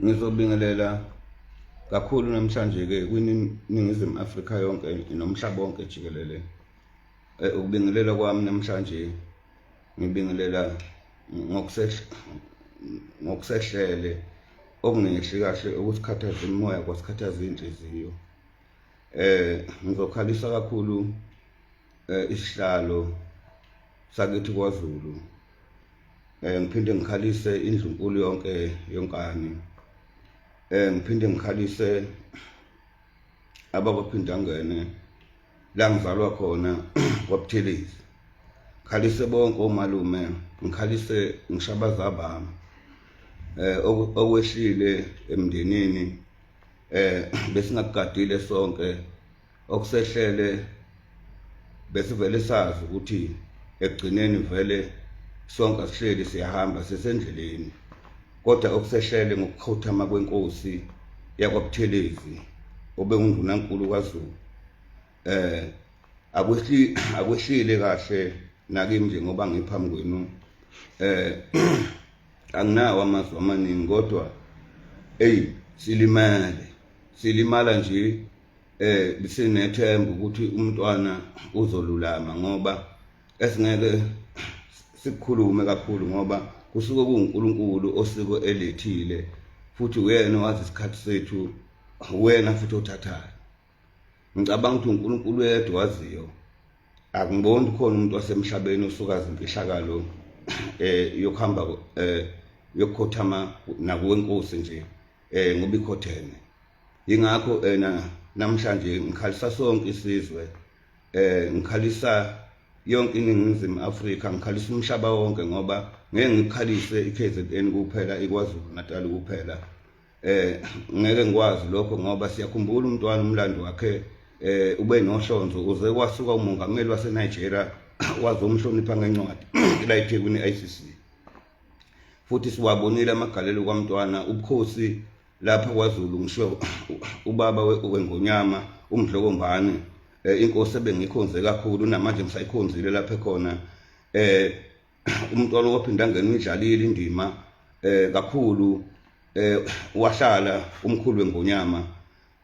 ngizobingelela kakhulu namhlanje-ke kwiningizimu afrika yonke nomhlaba wonke jikelele eh, ukubingelela kwami namhlanje ngibingelela ngokusehlele okungehli kahle okusikhathaza imimoya kwasikhathaza iy'nhliziyo um ngizokhalisa kakhulu eh, isihlalo sakithi kwaZulu eh ngiphinde ngikhalise indlu nkulu yonke yonkani eh ngiphinde ngikhalise ababaphindangene la ngizalwa khona kwaButhelezi ngikhalise bonke omalume ngikhalise ngishabaza bami eh okwehlile emndenini eh besingakugadile sonke okusehlele besivele sazi ukuthi ekugcineni vele sonke sihleli siyahamba sesendleleni kodwa okusehlele ngokukhothama kwenkosi yakwabuthelezi obengundunankulu kwazulu eh akwehli akwehlile kahle nakimi nje ngoba ngiphambi kwenu eh anginawo amazwi amaningi kodwa eyi silimele silimala nje eh sinethemba ukuthi umntwana uzolulama ngoba esingeke sikhulume kakhulu ngoba kusuke kuwuNkulunkulu osiko elethile futhi uyena owazi isikhathi sethu uyena futhi othathayo ngicabanga ukuthi uNkulunkulu yedwa waziyo akungiboni khona umuntu wasemhlabeni osuka zimfihlakalo eh yokuhamba eh yokukhothama nakuwenkosi nje eh ngoba ikhothene yingakho ena namhlanje ngikhalisa sonke isizwe eh ngikhalisa yonke iningizimu Afrika ngikhalisa umhlaba wonke ngoba ngeke ngikhalise iKZN kuphela iKwaZulu Natal kuphela eh ngeke ngikwazi lokho ngoba siyakhumbula umntwana umlando wakhe eh ube nohlonzo uze kwasuka umongameli waseNigeria wazomhlonipha ngencwadi la eThekwini ICC futhi siwabonile amagalelo kwaMntwana ubukhosi lapha kwaZulu ngisho ubaba wengonyama umdlokombane eh, inkosi ebengikhonze kakhulu namanje ngisayikhonzile lapha khona eh umntwana waphinda ngena uyidlalile indima eh kakhulu eh wahlala umkhulu wengonyama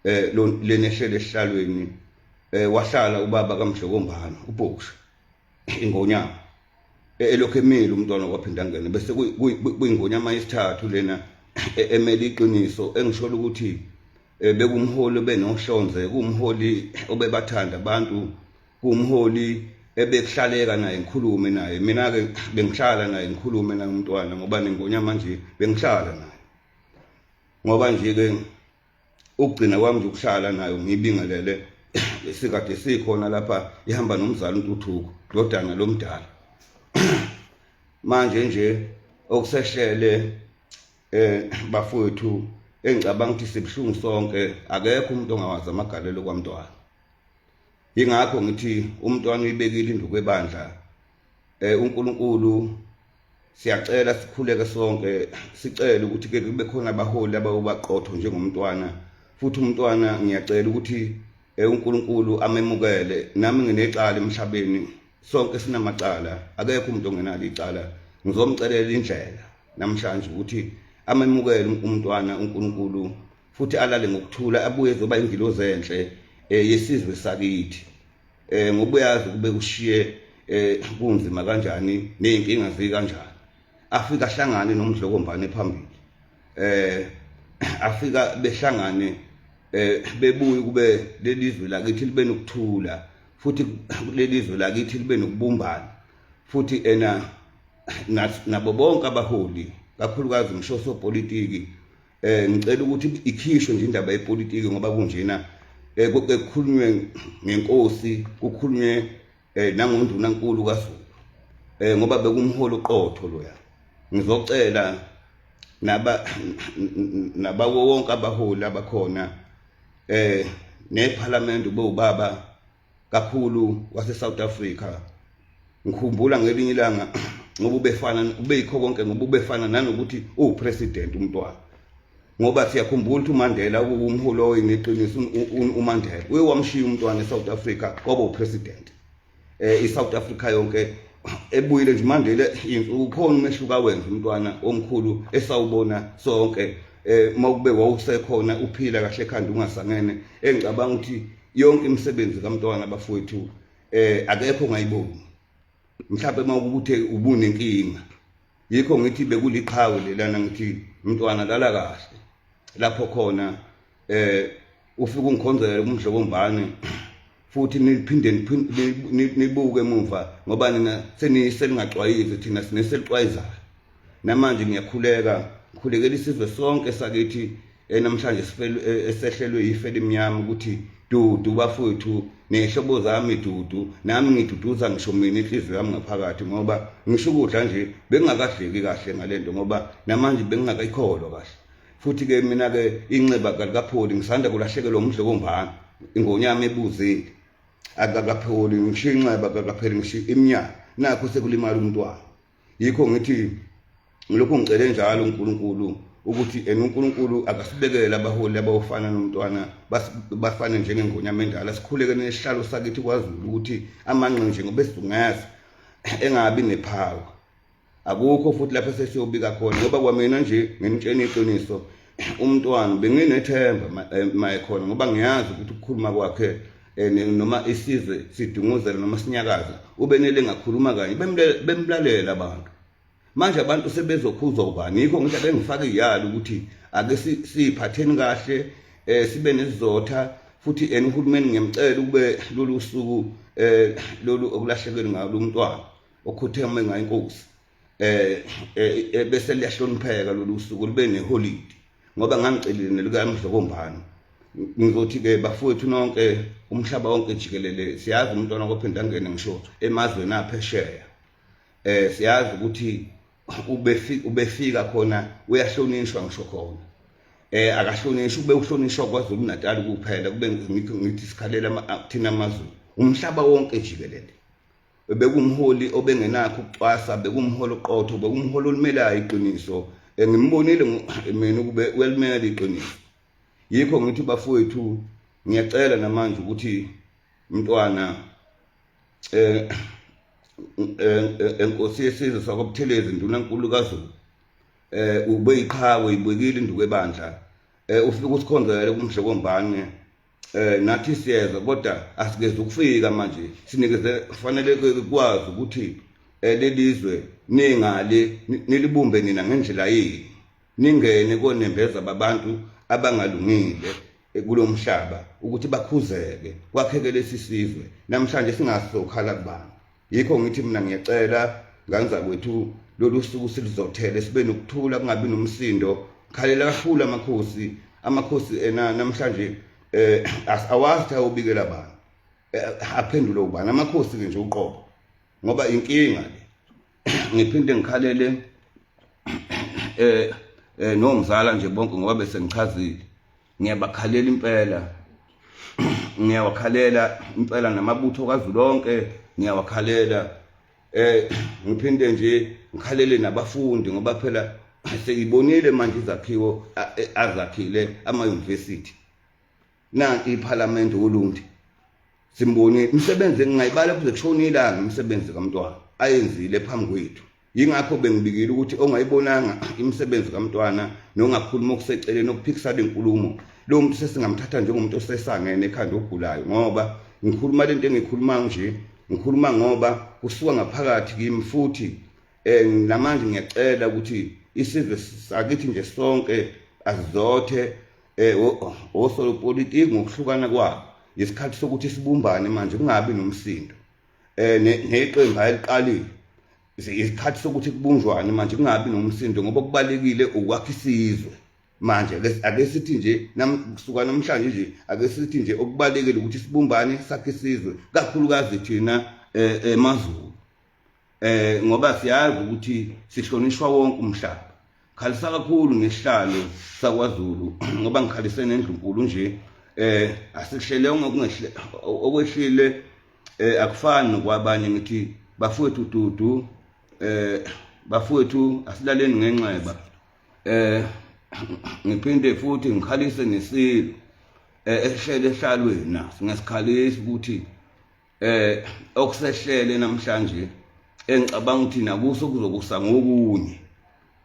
eh lenehlele esihlalweni eh wahlala ubaba kamdlokombane ubhoksha ingonyama e, elokhu emile umntwana kwaphinda ngene bese kuyingonyama yesithathu lena e, emele iqiniso engisholo ukuthi e, bekumholi obenohlonze kumholi obebathanda abantu kumholi ebekuhlaleka naye ngikhulume naye mina-ke bengihlala naye ngikhulume naye umntwana ngoba nengonyama nje bengihlala naye ngoba nje-ke ukugcina kwami nje ukuhlala nayo ngiyibingelele esikade sikhona lapha ihamba nomzali untuthuko ndodana lomdala manje nje okusehlele eh bafowethu engicabanga ukuthi sibuhlungu sonke akekho umuntu ongawazi amagalelo kwamntwana ingakho ngithi umntwana uyibekile induku ebandla eh uNkulunkulu siyacela sikhuleke sonke sicele ukuthi ke kube khona abaholi abawubaqotho njengomntwana futhi umntwana ngiyacela ukuthi eh uNkulunkulu amemukele nami nginecala emhlabeni sonke sinamacala akekho umuntu ongenalo icala ngizomcelela indlela namhlanje ukuthi amemukele umntwana uNkulunkulu futhi alale ngokuthula abuye ezoba ingilozi enhle eh, yesizwe sakithi eh ngoba uyazi kube ushiye eh kunzima kanjani nezinkinga zi kanjani afika hlangane nomdlokombane phambili eh afika behlangane eh bebuye kube lelizwe lakithi libe nokuthula futhi lelizwe lakithi libe nokubumbana futhi ena nabo bonke abaholi kakhulukazi ngisho sopolitiki eh ngicela ukuthi ikhishwe nje indaba yepolitiki ngoba kunjena eh kukhulunywe ngenkosi kukhulunywe eh nangonduna nkulu kaZulu eh ngoba bekumholo qotho loya ngizocela naba naba wonke abaholi abakhona eh neParliament ubaba kakhulu wase South Africa ngikhumbula ngelinye ilanga ngoba ubefana ubeyikho konke ngoba ubefana nanokuthi uwupresident umntwana ngoba siyakhumbula ukuthi uMandela uwumholi oyineqiniso uMandela uye wamshiya umntwana eSouth Africa kwaba upresident eh iSouth Africa yonke ebuyile nje Mandela ukhona umehluka wenza umntwana omkhulu esawubona sonke eh mawube wawusekhona uphila kahle ekhanda ungasangene engicabanga ukuthi yonke imisebenzi kamntwana bafowethu eh akekho ongayiboni mhlawumbe uma ukuthe ubunenkinga yikho ngithi bekuliqhawe lelana ngithi mntwana lala kahle lapho khona eh ufika ungikhonzela umdlobo mbane futhi niphinde nibuke emuva ngoba nina seniyiselingacwayizi thina sineselixwayizayo namanje ngiyakhuleka ngikhulekela isizwe sonke sakithi eh, namhlanje eh, esehlelwe yife limnyama ukuthi dudu bafowethu nehlobo zami dudu nami ngiduduza ngisho mina inhliziyo yami ngaphakathi ngoba ngisho ukudla nje bengingakadleki kahle ngale nto ngoba namanje bengingakayikholwa kahle futhi-ke mina-ke inxeba kalikapholi ngisanda kulahlekelwa umdlo wombana ingonyama ebuzile akakapholi ngisho inxeba kakapheli ngisho iminyaka nakho sekulimala umntwana yikho ngithi ngilokhu ngicele njalo uNkulunkulu ukuthi ena uNkulunkulu akasibekele abaholi abawufana nomntwana bafane njengengonyama endala sikhuleke nesihlalo sakithi kwaZulu ukuthi amanqe nje ngoba esidungazi engabi nephawu akukho futhi lapho sesiyobika khona ngoba kwamina nje nginitshena iqiniso umntwana benginethemba eh, maye khona ngoba ngiyazi ukuthi ukukhuluma kwakhe eh, noma isizwe sidunguzela noma sinyakaza ubenele ngakhuluma kanye bemlalela abantu manje abantu sebezokhuzwa ubani yikho ngithi abengifaka iyali ukuthi ake siyiphatheni kahle eh sibe nesizotha futhi en uhulumeni ngiyamcela ukube lolu suku eh lolu okulahlekelwe ngalo umntwana okhutheme ngayo inkosi eh, eh, eh bese liyahlonipheka lolu suku libe neholidi ngoba ngangicelile nelukamdlokombani ngizothi ke bafowethu nonke umhlaba wonke jikelele siyazi umntwana kophinda ngene ngisho emazweni aphesheya eh siyazi ukuthi ubefika ubefika khona uyahlonishwa ngisho khona eh akahlonishwa ube uhlonishwa kwaZulu Natal kuphela kube ngithi sikhalela thina amazulu umhlaba wonke jikelele bekumholi obengenakho ukucwasa bekumholi oqotho bekumholi olimelayo iqiniso ngimbonile mina ukube uyalimela iqiniso yikho ngithi bafowethu ngiyacela namanje ukuthi mntwana eh enkosi yesizwe sakwabuthelezi ndunankulu kazulu eh ube iqhawe ibekile induku ebandla eh ufike usikhonzele kumdle kombane eh nathi siyeza kodwa asikeze ukufika manje sinikeze kufanele kwazi ukuthi eh, lelizwe ningali nilibumbe nina ngendlela yini ningene konembeza babantu abangalungile eh, kulomhlaba ukuthi bakhuzeke kwakheke lesisizwe namhlanje singasokhala kubani yikho ngithi mina ngiyacela ngane zakwethu lolu suku siluzothele sibe nokuthula kungabi nomsindo khalela kakhulu amakhosi amakhosi ena namhlanje eh awazi ukuthi ayobikela bani eh, aphendule ubani amakhosi ke nje uqobo ngoba inkinga le ngiphinde ngikhalele eh eh nomzala nje bonke ngoba bese ngichazile ngiyabakhalela impela ngiyawakhalela impela namabutho kazulonke ngiyawakhalela eh ngiphinde nje ngikhalele nabafundi ngoba phela sengibonile manje izakhiwo e, azakhile ama-university nanti iphalamende olundi simbonile imisebenzi ngingayibala kuze kushona ilanga imisebenzi kamntwana ayenzile phambi kwethu yingakho bengibikile ukuthi ongayibonanga imisebenzi kamntwana nongakhuluma okuseceleni okuphikisana inkulumo lo muntu sesingamthatha njengomuntu osesangene ekhanda ogulayo ngoba ngikhuluma le nto engikhuluma nje ngikhuluma ngoba kusuka ngaphakathi kimi futhi um namanje ngiyacela ukuthi isizwe sakithi nje sonke azizothe um osolopolitiki ngokuhlukana kwabo yisikhathi sokuthi sibumbane manje kungabi nomsindo eh neqembu ayiliqalile isikhathi sokuthi kubunjwane manje kungabi nomsindo ngoba kubalekile ukwakha isizwe manje ake sithi nje kusuka namhlanje nje ake sithi nje okubalekile ukuthi sibumbane sakhe isizwe kakhulukazi thina eh, emazulu eh ngoba siyazi ukuthi sihlonishwa wonke umhlaba khalisa kakhulu ngesihlalo sakwazulu ngoba ngikhalise nendlunkulu nje eh asikuhlele ngokungehle okwehlile eh akufani nokwabanye ngithi bafowethu dudu eh bafowethu asilaleni ngenxeba eh ngiphinde futhi ngikhalise nesilo eh ehlele ehlalweni naso ngesikhalisa ukuthi eh okusehlele namhlanje engicabanga ukuthi nakuso kuzokusa ngokunye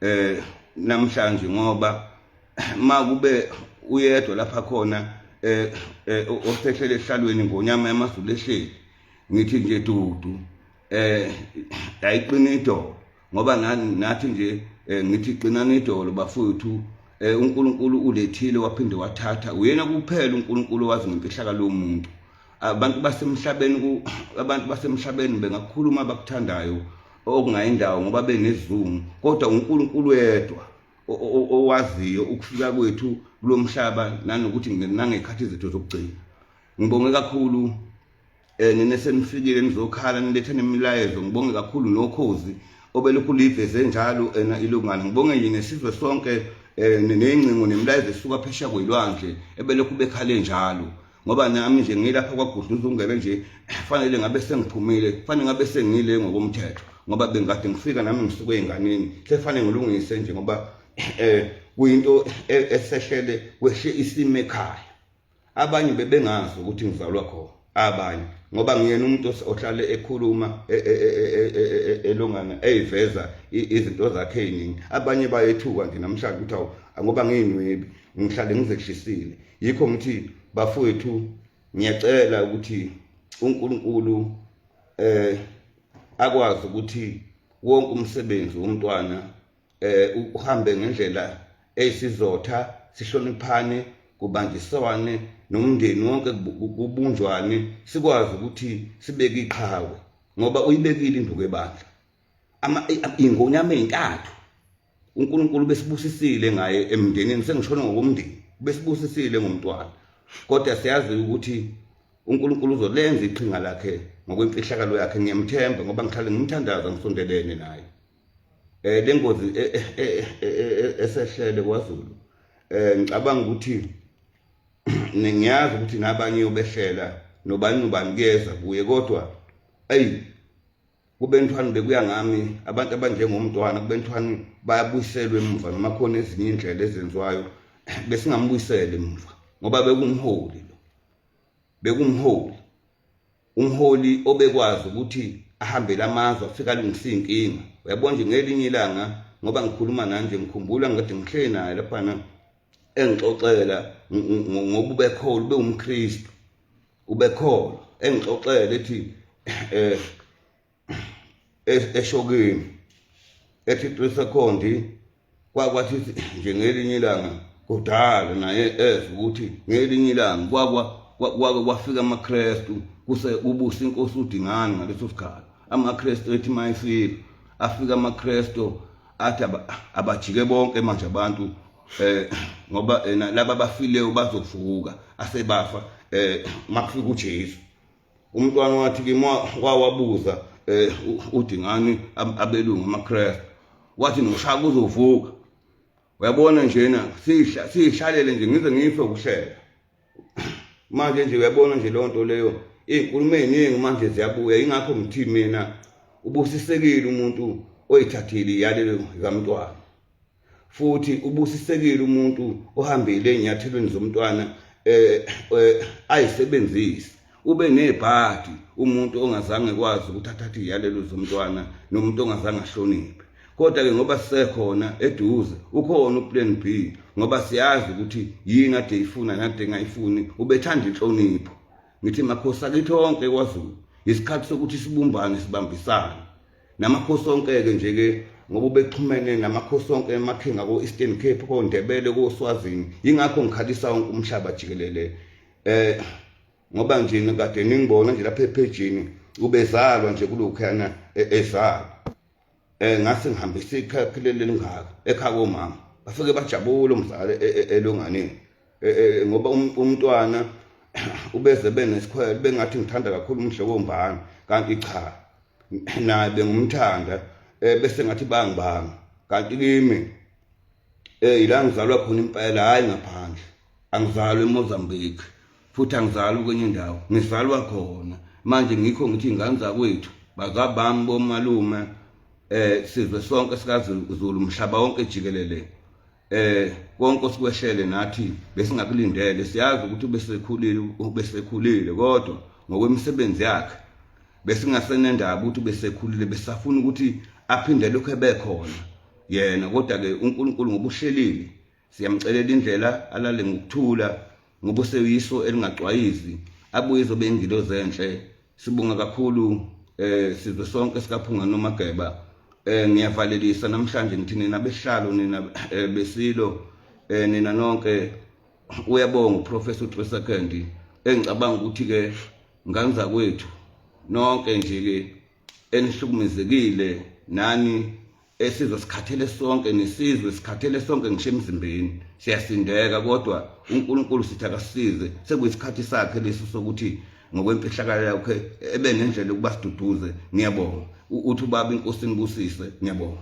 eh namhlanje ngoba makube uyedwa lapha khona eh, eh osehlele ehlalweni ngonyama yamazulu ehleli ngithi nje dudu eh ayiqinido ngoba ngathi nje eh, ngithi qinani idolo bafowethu eh, uNkulunkulu ulethile waphinde wathatha uyena kuphela uNkulunkulu wazi ngemfihlakalo yomuntu abantu basemhlabeni abantu basemhlabeni bengakhuluma abakuthandayo okungayindawo ngoba benezungu kodwa uNkulunkulu wedwa owaziyo ukufika kwethu kulomhlaba nanokuthi nangekhathi izethu zokugcina ngibonge kakhulu Eh nina senifikile nizokhala nilethe nemilayezo ngibonge kakhulu nokhozi obelokhu liveze njalo ena ilungana ngibonge yini sizwe sonke eh nengcingo nemilayezo esuka phesha kwelwandle ebelokhu bekhale njalo ngoba nami nje ngilapha kwagudluza ungebe nje fanele ngabe sengiphumile fanele ngabe sengile ngokomthetho ngoba bengade ngifika nami ngisuke enganeni sefanele ngilungise nje ngoba eh kuyinto eh, esehlele kweshe isime ekhaya abanye bebengazi ukuthi ngizalwa khona abanye ngoba ngiyena umuntu ohlale ekhuluma e, e, e, elongana eyiveza izinto zakhe eziningi abanye bayethuka nje namhlanje ukuthi awu ngoba ngiyinwebi ngihlale ngizehlisile yikho ngithi bafowethu ngiyacela ukuthi uNkulunkulu eh akwazi ukuthi wonke umsebenzi womntwana eh uhambe ngendlela eyisizotha sihloniphane kubanjiswane nomndeni wonke kubunjwane sikwazi ukuthi sibeke iqhawe ngoba uyibekile induku ebandla ama ingonyama ezintathu uNkulunkulu besibusisile ngaye emndenini sengishona ngokomndeni besibusisile ngomntwana kodwa siyazi ukuthi uNkulunkulu uzolenza iqhinga lakhe ngokwemfihlakalo yakhe ngiyamthemba ngoba ngihlale ngimthandaza ngisondelene naye eh lengozi eh, eh, eh, esehlele kwaZulu eh ngicabanga ukuthi ngiyazi ukuthi nabanye ubehlela nobani ubani kuyeza kuye kodwa ayi kubentwana bekuya ngami abantu abanjengomntwana kubentwana bayabuyiselwa emuva noma khona ezinye indlela ezenziwayo besingambuyisela emuva ngoba bekumholi lo bekumholi umholi obekwazi ukuthi ahambele amazwe afika alungise iy'nkinga uyabona nje ngelinye ilanga ngoba ngikhuluma nanje ngikhumbula ngade ngihleli naye laphana engixoxela ngoba ubekholwa ube umkristu ubekholwa engixoxela ethi um eshokini ethi qisekhondi kwakwathi nje ngelinye ilanga kudala naye eze ukuthi ngelinye ilanga kwakwa kwake kwafika amakrestu kuse ubusa inkosi udingani ngaleso sikhathi amakrestu ethi mayifika afika amakrestu athi abajike bonke manje abantu eh ngoba ena laba bafileyo bazovuka asebafa eh makufika uJesu umntwana wathi kimi wawabuza eh udingani abelungu amaKristu wathi noshaka uzovuka uyabona njena sihla sihlalele nje ngize ngife ukuhleka manje nje uyabona nje lonto leyo izinkulumo eziningi manje ziyabuya ingakho ngithini mina ubusisekile umuntu oyithathile iyalelo kamntwana futhi ubusisekile umuntu ohambile enyathelweni zomntwana eh, eh ayisebenzisi ube nebhadi umuntu ongazange kwazi ukuthi athathe iyalelo zomntwana nomuntu ongazange ahloniphe kodwa ke ngoba sisekhona eduze ukhona uplan B ngoba siyazi ukuthi yini ade ifuna nade engayifuni ubethanda inhlonipho ngithi makhosi akithi onke kwaZulu isikhathi sokuthi sibumbane sibambisane namakhosi onke-ke nje-ke ngoba ubexhumene namakhosi onke emakhingi ako-eastern cape kondebele koswazini yingakho ngikhalisa wonke umhlaba jikelele eh ngoba nje kade ningibona nje lapha ephejini ubezalwa nje kulokhuyana e-, ezalwa eh ngase ngihambisa ikhakhe lelingaka ekhaya komama bafike bajabule umzali e-, e-, elonganeni eh, eh, ngoba um, umntwana ubeze benesikhwele bengathi ngithanda kakhulu umhle wombani kanti cha naye bengumthanda eh, bese ngathi bangibanga kanti kimi eh ila ngizalwa khona impela hayi ngaphandle angizalwe eMozambique futhi angizalwa kwenye indawo ngizalwa khona manje ngikho ngithi ingane zakwethu bazabami bomalume eh sizwe sonke sikaZulu umhlaba wonke jikelele eh konke osikweshele nathi besingakulindele siyazi ukuthi ubesekhulile ubesekhulile kodwa ngokwemisebenzi yakhe besingasenendaba ukuthi ubesekhulile besafuna ukuthi aphinde lokho ebekhona yena kodwa ke uNkulunkulu ngobuhlelile siyamcelela indlela alale ngokuthula ngoba useyiso elingacwayizi abuye izobe ingilo zenhle sibonga kakhulu eh sizwe sonke sikaphunga nomageba eh ngiyavalelisa namhlanje ngithi nina behlalo nina eh, besilo eh nina nonke uyabonga uprofessor uTresa Candy engicabanga ukuthi ke nganza kwethu nonke nje ke enihlukumezekile nani esizwe sikhathele sonke nesizwe sikhathele sonke ngisho emzimbeni siyasindeka kodwa uNkulunkulu sithi akasize sekuyisikhathi sakhe lesi sokuthi ngokwemfihlakalo yakhe ebe nendlela ukuba siduduze ngiyabonga uthi ubaba inkosini busise ngiyabonga